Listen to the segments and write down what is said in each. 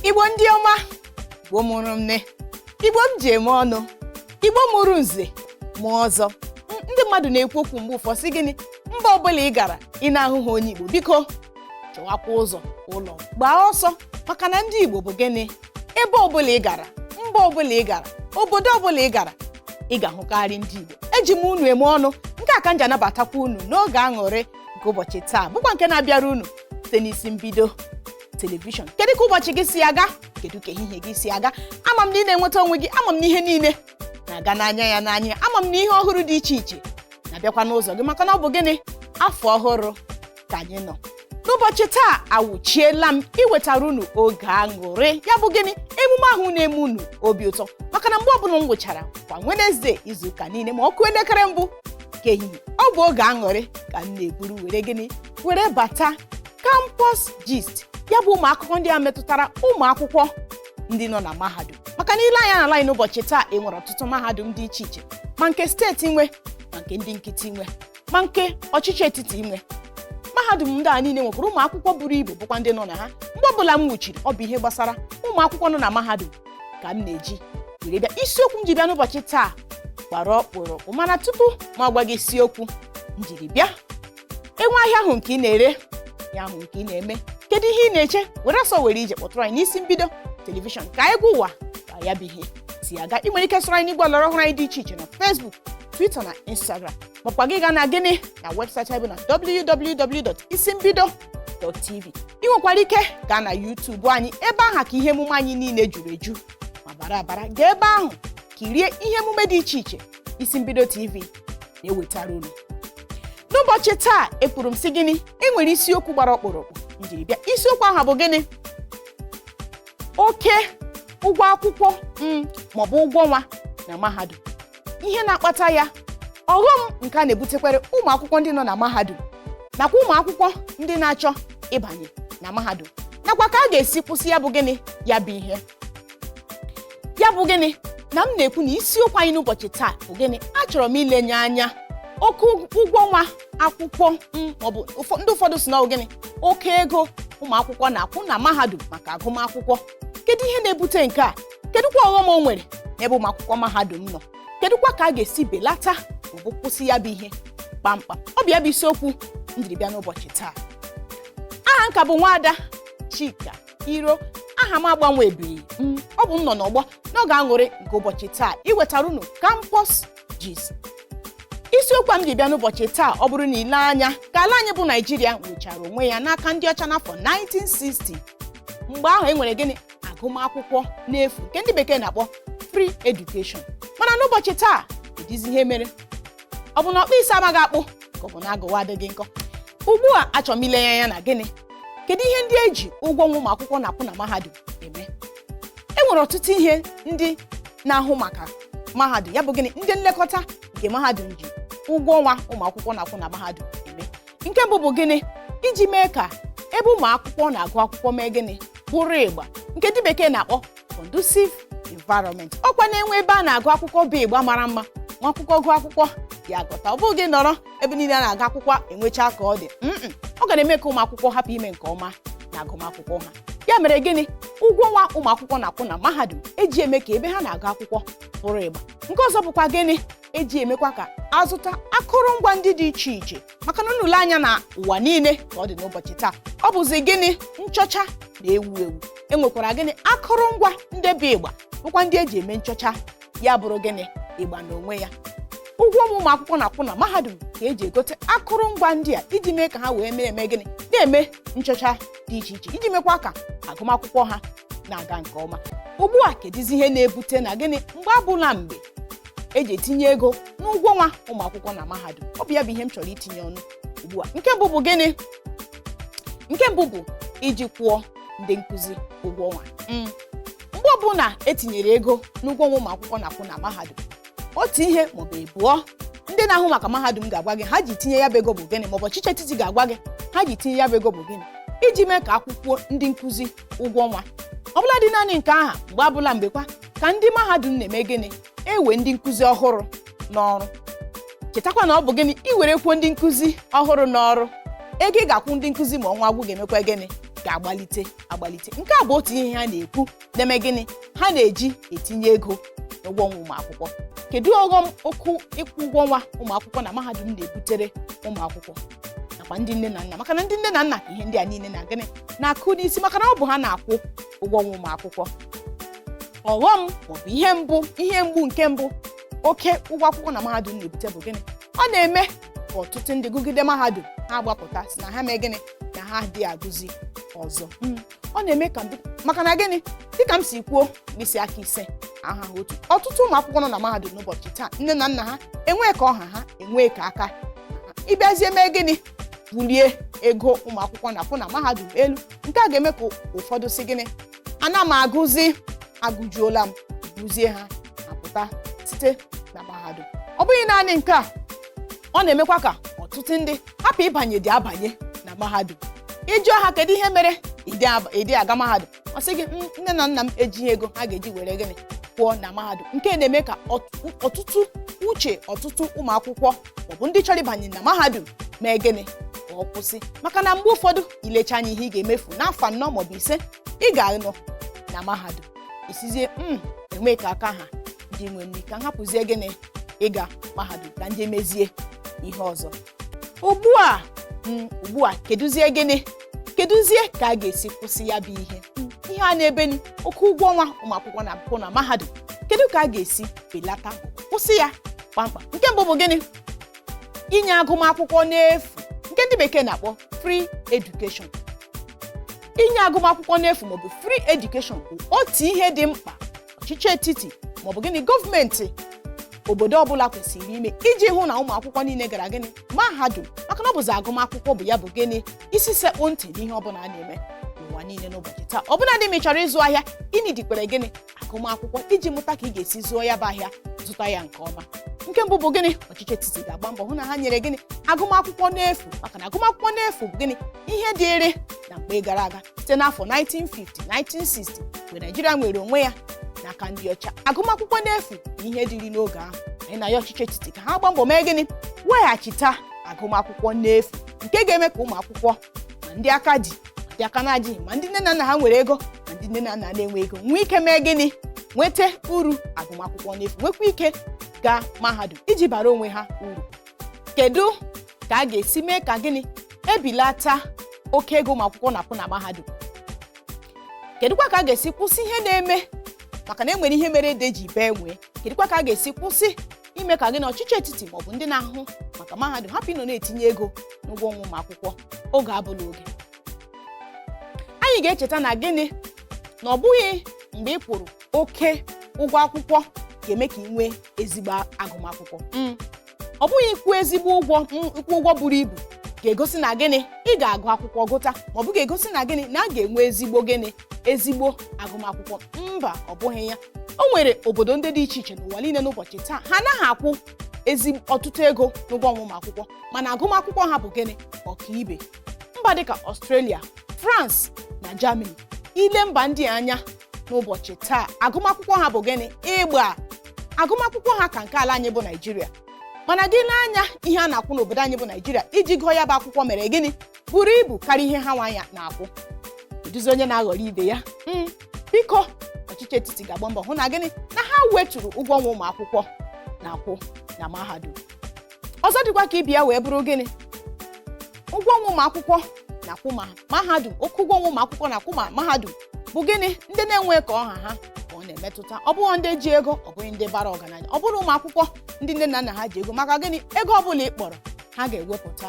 igbo ndị ọma igbo mụrụ nne igbo m ji eme ọnụ igbo mụrụ nze mụọ ọzọ ndị mmadụ na-ekwu okwu mgbe ụfọdụ sị gịnị mba ọbụla ị gara ị na-ahụha onye igbo biko chọwakwa ụzọ ụlọ gbaa ọsọ maka na ndị igbo bụ gịnị ebe ọbụla ị gara mba ọbụla ị gara obodo ọbụla ị gara ị ga-ahụkarị ndị igbo eji m unu eme ọnụ nke a ka m ji anabatakwa unu n'oge aṅụrị nke ụbọchị taa bụkwa nke na-abịara unu site n'isi mbido telivishọn kedu ka ụbọchị gị si aga kedu ka ehihie gị si aga ama m na ị na-enweta onwe gị ama m na ihe niile na-aga n'anya ya n'anya ama m na ihe ọhụrụ dị iche iche na-abịakwa n'ụzọ gị maka na ọ bụ gịnị afọ ọhụrụ ka anyị nọ n'ụbọchị taa awụchiela m iwetara unu oge aṅụrị ya bụ gịnị emume ahụ na-eme unu obi ụtọ maka na mgbe ọbụla m wụchara kwa Wenezdee izuụka niile ma ọ kụọ elekere mbụ nke ehihie ọ bụ oge aṅụrị ka m na-eburu were gịnị were bata campus gist ya bụ ụmụ akụkọ ndị a metụtara ụmụ akwụkwọ ndị nọ na mahadum maka na i lee anya n'ala anyị n'ụbọchị taa e nwere ọtụtụ mahadum dị iche iche ma nke steeti nwe ma nke ndị nkịtị nwe ma nke ọchịchị etiti nwe mahadum ndị a niile nwekwara ụmụ akwụkwọ buru ibu bụkwa ndị nọ na ha mgbe ọbụla m wuchiri ọ bụ ihe gbasara ụmụ akwụkwọ nọ na mahadum ka m na-eji were bịa isiokwu m ji bịa n'ụbọchị taa gbara ọkpụrụkpụ mana tupu m agwa gị isiokwu m jiri bịa e nwee ahịa ahụ nke ị na-ere ihe ahụ nke ị na-eme kedu ihe ị na-eche were ọsọ were ije kpọtụrụ anyị n'isi mbido telivishọn ka anyị gwa ụwa ka ya bụ ihe si aga ị nwere ike soro anyị n'igwe ọlọrọ ọhụrụ anyị dị iche iche na Facebook Twitter na Instagram makwa gị gaa na gịnị na webụsaịtị anyị bụ na www.isimbido.tv ị nwekwara ike gaa na YouTube anyị ebe aha ka ihe emume anyị niile juru eju ma bara abara gaa ebe ahụ kirie ihe emume dị iche iche isi mbido tv na-ewetara unu n'ụbọchị taa ekwuru m sị gịnị e nwere isiokwu gbara ọkpụrụkpụ m jiri bịa isiokwu ahụ bụ gịnị oke ụgwọ akwụkwọ maọbụ ụgwọ ọnwa na mahadum ihe na-akpata ya ọghọm nke a na-ebutekwere ụmụ akwụkwọ ndị nọ na mahadum nakwa ụmụ akwụkwọ ndị na-achọ ịbanye na mahadum nakwa ka a ga-esi kwụsị ya bụ gịnị ya bụ ihe ya bụ gịnị na m na-ekwu na isiokwu anyị n'ụbọchị taa bụ gịnị achọrọ m ilenye anya oke ụgwọ ọnwa akwụkwọ maọbụ ụfọ- ndị ụfọdụ sị na ọ bụ gịnị oke ego ụmụ akwụkwọ na-akwụ na mahadum maka agụmakwụkwọ kedu ihe na-ebute nke a kedụkwa ọghọm o nwere n'ebe ụmụ akwụkwọ mahadum nọ kedụkwa ka a ga-esi belata maọbụ kwụsị ya bụ ihe kpamkpam ọ bụ ya bụ isiokwu m jiri bịa n'ụbọchị taa aha m ka bụ nwaada chika iro aha m agbanwebeghị ọ bụ m nọ n'ọgbọ n'oge aṅụrị nke ụbọchị taa iwetara unu campus gist isiokwu m ji bịa n'ụbọchị taa ọ bụrụ na i lee anya ka ala anyị bụ naijiria nwechara onwe ya n'aka ndị ọcha n'afọ 1960 mgbe ahụ e nwere gịnị agụmakwụkwọ n'efu nke ndị bekee na-akpọ free education mana n'ụbọchị taa kedizi ihe mere ọ bụ na ọkpụ isi amaghị akpụ ka ọ bụ na agụwa adịghị nkọ ugbu a achọrọ m ilenye anya na gịnị kedu ihe ndị eji ụgwọ ọnwa ụmụ akwụkwọ na-akwụ na mahadum eme e nwere ọtụtụ ihe ndị na-ahụ maka mahadum ya bụ gịnị ndị nlekọta nke mahadum ji ụgwọ ọnwa ụmụ akwụkwọ na-akwụ na mahadum eme nke mbụ bụ gịnị iji mee ka ebe ụmụ akwụkwọ na-agụ akwụkwọ mee gịnị bụrụ ịgba nke ndị bekee na-akpọ conducive environment ọkwa na e nwee ebe a na-agụ akwụkwọ bụ ịgba mara mma nwa akwụkwọ gụọ akwụkwọ ya agụta ọ bụghị ị nọrọ ebe niile a na-agụ akwụkwọ enwecha ka ọ dị Mm-mm. ọ ga na-eme ka ụmụ akwụkwọ hapụ ime nke ọma na agụmakwụkwọ ha ya mere gịnị ụgwọ ọnwa ụmụ akwụkwọ na-akwụ na mahadum eji eme ka ebe ha na-agụ akwụkwọ bụrụ ịgba nke ọzọ bụkwa gịnị eji emekwa ka azụta akụrụngwa ndị dị iche iche maka na unu lee anya na ụwa niile ka ọ dị n'ụbọchị taa ọ bụzi gịnị nchọcha na-ewu ewu enwekwara gịnị akụrụngwa ndị bụ ịgba bụkwa ndị eji eme nchọcha ya bụrụ gịnị ịgba n'onwe ya ụgwọ ọnwa ụmụ akwụkwọ na-akwụ na mahadum ka eji egote akụrụngwa ndị a iji mee ka ha wee mee gịnị na-eme nchọcha dị iche iche iji mekwa ka agụmakwụkwọ ha na-aga nke ọma ugbu a kedizi ihe na-ebute na gịnị mgbe abụla mgbe eji etinye ego n'ụgwọ ọnwa ụmụ akwụkwọ na mahadum ọ bụ ya bụ ihe m chọrọ itinye ọnụ ugbu a nke mbụ bụ gịnị nke mbụ bụ iji kwụọ ndị nkụzi ụgwọ ọnwa Mm. mgbe ọbụla etinyere ego n'ụgwọ ọnwa ụmụ akwụkwọ na-akwụ na mahadum otu ihe maọbụ ịbụọ ndị na-ahụ maka mahadum ga-agwa gị ha ji tinye ya bụ ego bụ gịnị maọbụ ọchịchị etiti ga-agwa gị ha ji tinye ya bụ ego bụ gịnị iji mee ka a kwụkwuo ndị nkụzi ụgwọ ọnwa ọ bụladị naanị nke aha mgbe abụla mgbekwa ka ndị mahadum na-eme gịnị ewe ndị nkụzi ọhụrụ n'ọrụ chetakwa na ọ bụ gịnị iwerekwuo ndị nkụzi ọhụrụ n'ọrụ ego ị ga-akwụ ndị nkụzi ma ọnwa gwụ ga-emekwa gịnị ga-agbalite agbalite nke a bụ otu ihe ha na-ekwu na-eme gịnị ha na-eji etinye ego na ụgwọ ọnwa ụmụ akwụkwọ kedu ọghọm oke ịkwụ ụgwọ ọnwa ụmụ akwụkwọ na mahadum na-ebutere ụmụ akwụkwọ nakwa ndị nne na nna maka na ndị nne na nna ka ihe ndị a niile na gịnị na-akụ n'isi maka na ọ bụ ha na-akwụ ụgwọ ọnwa ụmụ akwụkwọ ọghọm maọbụ ihe mbụ ihe mgbu nke mbụ oke ụgwọ akwụkwọ na mahadum na-ebute bụ gịnị ọ na-eme ka ọtụtụ ndị gụgide mahadum ha agbapụta sị na ha mee gịnị na ha adịghị agụzi ọzọ ọ na-eme ka ndị maka na gịnị dịka m si kwuo mkpịsị aka ise ahaha otu ọtụtụ ụmụ akwụkwọ nọ na mahadum n'ụbọchị taa nne na nna ha enwee ka ọ ha ha enwee ka aka ị bịazie mee gịnị bulie ego ụmụ akwụkwọ na-akwụ na mahadum elu nke a ga-eme ka ụfọdụ sị gịnị ana m agụzi agụjuola m gụzie ha apụta site na mahadum ọ bụghị naanị nke a ọ na-emekwa ka ọtụtụ ndị hapụ ịbanye dị abanye na mahadum ị jụọ ha kedu ihe mere ị dị ab- ị dị aga mahadum ọ sị gị Mm, nne na nna m ejighị ego ha ga-eji were gịnị kwụọ na mahadum nke na-eme ka ọt- ọtụtụ uche ọtụtụ ụmụ akwụkwọ maọbụ ndị chọrọ ịbanye na mahadum mee gịnị ka ọ kwụsị maka na mgbe ụfọdụ i lecha anya ihe ị ga-emefu n'afọ anọ maọbụ ise ị ga-anọ na mahadum ị sịzie m enwe ka aka ha ndị nwe nri ka m hapụzie gịnị ịga mahadum ka ndị mezie ihe ọzọ ugbu a mm, ugbu a kedụzie gịnị kedụzie ka a ga-esi kwụsị ya bụ ihe Mm, ihe a na-ebe ni oke ụgwọ ọnwa ụmụ akwụkwọ na-akwụ na mahadum kedu ka a ga-esi belata kwụsị ya kpamkpam nke mbụ bụ gịnị inye agụmakwụkwọ n'efu nke ndị bekee na-akpọ free education inye agụmakwụkwọ n'efu maọbụ free education bụ otu ihe dị mkpa ọchịchị etiti maọbụ gịnị gọọmenti obodo ọbụla kwesịrị ime iji hụ na ụmụ akwụkwọ niile gara gịnị mahadum maka na ọ bụzi agụmakwụkwọ bụ ya bụ gịnị isi sekpụ ntị n'ihe ọbụla a na-eme n'ụwa niile n'ụbọchị taa ọbụladị ma ị chọrọ ịzụ ahịa ị needikwara gịnị agụmakwụkwọ iji mụta ka ị ga-esi zụọ ya bụ ahịa zụta ya nke ọma nke mbụ bụ gịnị ọchịchị etiti ga-agba mbọ hụ na ha nyere gịnị agụmakwụkwọ n'efu maka na agụmakwụkwọ n'efu bụ gịnị ihe dịịrị na mgbe gara aga site n'afọ 1950 1960 mgbe Naịjirịa nwere onwe ya n'aka ndị ọcha agụmakwụkwọ n'efu bụ ihe dịrị n'oge ahụ anyị na-ayọ ọchịchị etiti ka ha gbaa mbọ mee gịnị weghachita agụmakwụkwọ n'efu nke ga-eme ka ụmụ akwụkwọ ma ndị aka dị ma ndị aka na-adịghị ma ndị nne na nna ha nwere ego ma ndị nne na nna na-enwe ego nwee ike mee gịnị nweta uru agụmakwụkwọ n'efu nwekwa ike gaa mahadum iji bara onwe ha uru kedu ka a ga-esi mee ka gịnị e belata oke ego ụmụ akwụkwọ na-akwụ na mahadum kedụkwa ka a ga-esi kwụsị ihe na-eme maka na e nwere ihe mere ede ji bee nwịị kedụkwa ka a ga-esi kwụsị ime ka gịnị ọchịchị etiti maọbụ ndị na-ahụ maka mahadum hapụ ịnọ na-etinye ego n'ụgwọ ọnwa ụmụ akwụkwọ oge abụla oge anyị ga-echeta na gịnị na ọ bụghị mgbe ị kwụrụ oke ụgwọ akwụkwọ ga-eme ka ị nwee ezigbo agụmakwụkwọ Mm. ọ bụghị ịkwụ ezigbo ụgwọ m- ịkwụ ụgwọ buru ibu ga-egosi na gịnị ị ga-agụ akwụkwọ gụta ma ọ bụ ga-egosi na gịnị na a ga-enwe ezigbo gịnị ezigbo agụmakwụkwọ mba ọ bụghị ya o nwere obodo ndị dị iche iche n'ụwa niile n'ụbọchị taa ha anaghị akwụ ezi ọtụtụ ego n'ụgwọ ọnwa ụmụ akwụkwọ mana agụmakwụkwọ ha bụ gịnị ọkaibe mba dịka Australia France na Germany i lee mba ndị a anya n'ụbọchị taa agụmakwụkwọ ha bụ gịnị igba agụmakwụkwọ ha ka nke ala anyị bụ naijiria mana gị lee anya ihe a na-akwụ n'obodo anyị bụ naijiria iji gụọ ya bụ akwụkwọ mere gịnị buru ibu karịa ihe ha nwanya na-akwụ kedụzi onye na-aghọrọ ibe ya Mm, biko ọchịchị etiti ga-agba mbọ hụ na gịnị na ha weturu ụgwọ ọnwa ụmụ akwụkwọ na-akwụ na mahadum ọzọ dịkwa ka ibe ya wee bụrụ gịnị ụgwọ ọnwa ụmụ akwụkwọ na-akwụ na mahadum oke ụgwọ ọnwa ụmụ akwụkwọ na-akwụ na mahadum bụ gịnị ndị na-enweghị ka ọ ha ha ka ọ na-emetụta ọ bụghị ndị ji ego ọ bụghị ndị bara ọgaranya ọ bụghị ụmụ akwụkwọ ndị nne na nna ha ji ego maka gịnị ego ọ bụla ị kpọrọ ha ga-ewepụta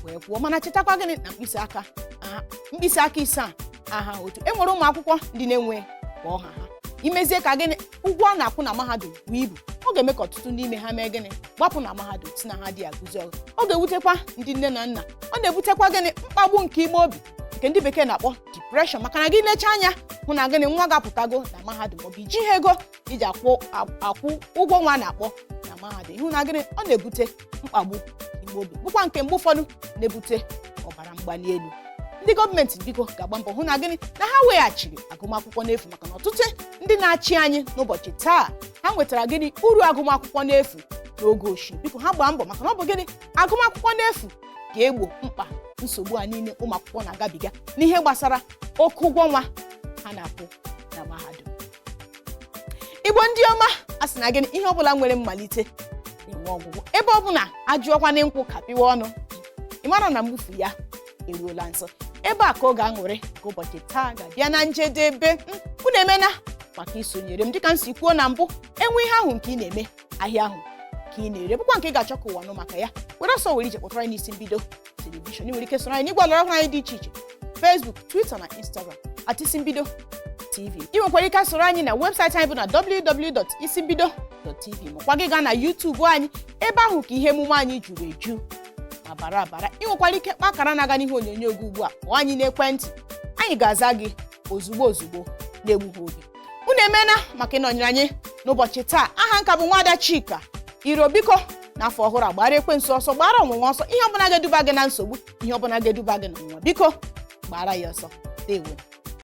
wee kwụọ mana chetakwa gịnị na mkpịsị aka aha- mkpịsị aka ise a ahaghị otu e nwere ụmụ akwụkwọ ndị na-enweghị ka ọ ha ha i mezie ka gịnị ụgwọ a na-akwụ na mahadum buo ibu ọ ga-eme ka ọtụtụ n'ime ha mee gịnị gbapụ na mahadum sị na ha adị agụzi ọzọ ọ ga-ewutekwa ndị nne na nna ọ na-ebutekwa gịnị mkpagbu nke ime obi nke ndị bekee na-akpọ depression maka na gị lecha anya hụ na gịnị nwa gị apụtago na mahadum maọbụ i jighị ego iji akwụ ụgwọ ọnwa a na-akpọ na mahadum ị hụ na gịnị ọ na-ebute mkpagbu ime obi bụkwa nke mgbe ụfọdụ na-ebute ọbara mgbali elu ndị gọọmenti biko ga-agba mbọ hụ na gịnị na ha weghachiri agụmakwụkwọ n'efu maka na ọtụtụ ndị na-achị anyị n'ụbọchị taa ha nwetara gịnị uru agụmakwụkwọ n'efu n'oge ochie biko ha gbaa mbọ maka na ọ bụ gịnị agụmakwụkwọ n'efu ga-egbo mkpa nsogbu a niile ụmụ akwụkwọ na-agabiga n'ihe gbasara oke ụgwọ ọnwa ha na-akwụ na mahadum igbo ndị ọma a sị na gịnị ihe ọbụla nwere mmalite na-enwe ọgwụgwụ ebe ọbụla ajụọkwana nkwụ kapịwa ọnụ ị mara na mgbufu ya eruola nso ebe a ka oge aṅụrị nke ụbọchị taa ga-abịa na njedebe unu emena maka isonyere m dịka m si kwuo na mbụ e nwee ihe ahụ nke ị na-eme ahịa ahụ nke ị na-ere bụkwa nke ị ga-achọ ka ụwa nụ maka ya were ọsọ were ije kpọtara anyị n'isi mbido telivishọn ị nwere ike soro anyị n'igwe ọlọrọ ọhụrụ anyị dị iche iche Facebook Twitter na Instagram at isi mbido tv ị nwekwara ike soro anyị na webụsaịtị anyị bụ na www.isimbido.tv makwa gị gaa na YouTube anyị ebe ahụ ka ihe emume anyị juru eju ma bara abara ị nwekwara ike kpaa akara na-aga n'ihe onyonyo gị ugbu a kpọọ anyị n'ekwentị anyị ga-aza gị ozugbo ozugbo na-egbughị oge unu emena maka ịnọnyere anyị n'ụbọchị taa aha m ka bụ nwaada Chika Iro biko n'afọ ọhụrụ a gbaara ekwensu ọsọ gbaara ọnwụnwa ọsọ ihe ọbụla ga-eduba gị na nsogbu ihe ọbụla ga-eduba gị n'ọnwụnwa biko gbaara ya ọsọ ndewo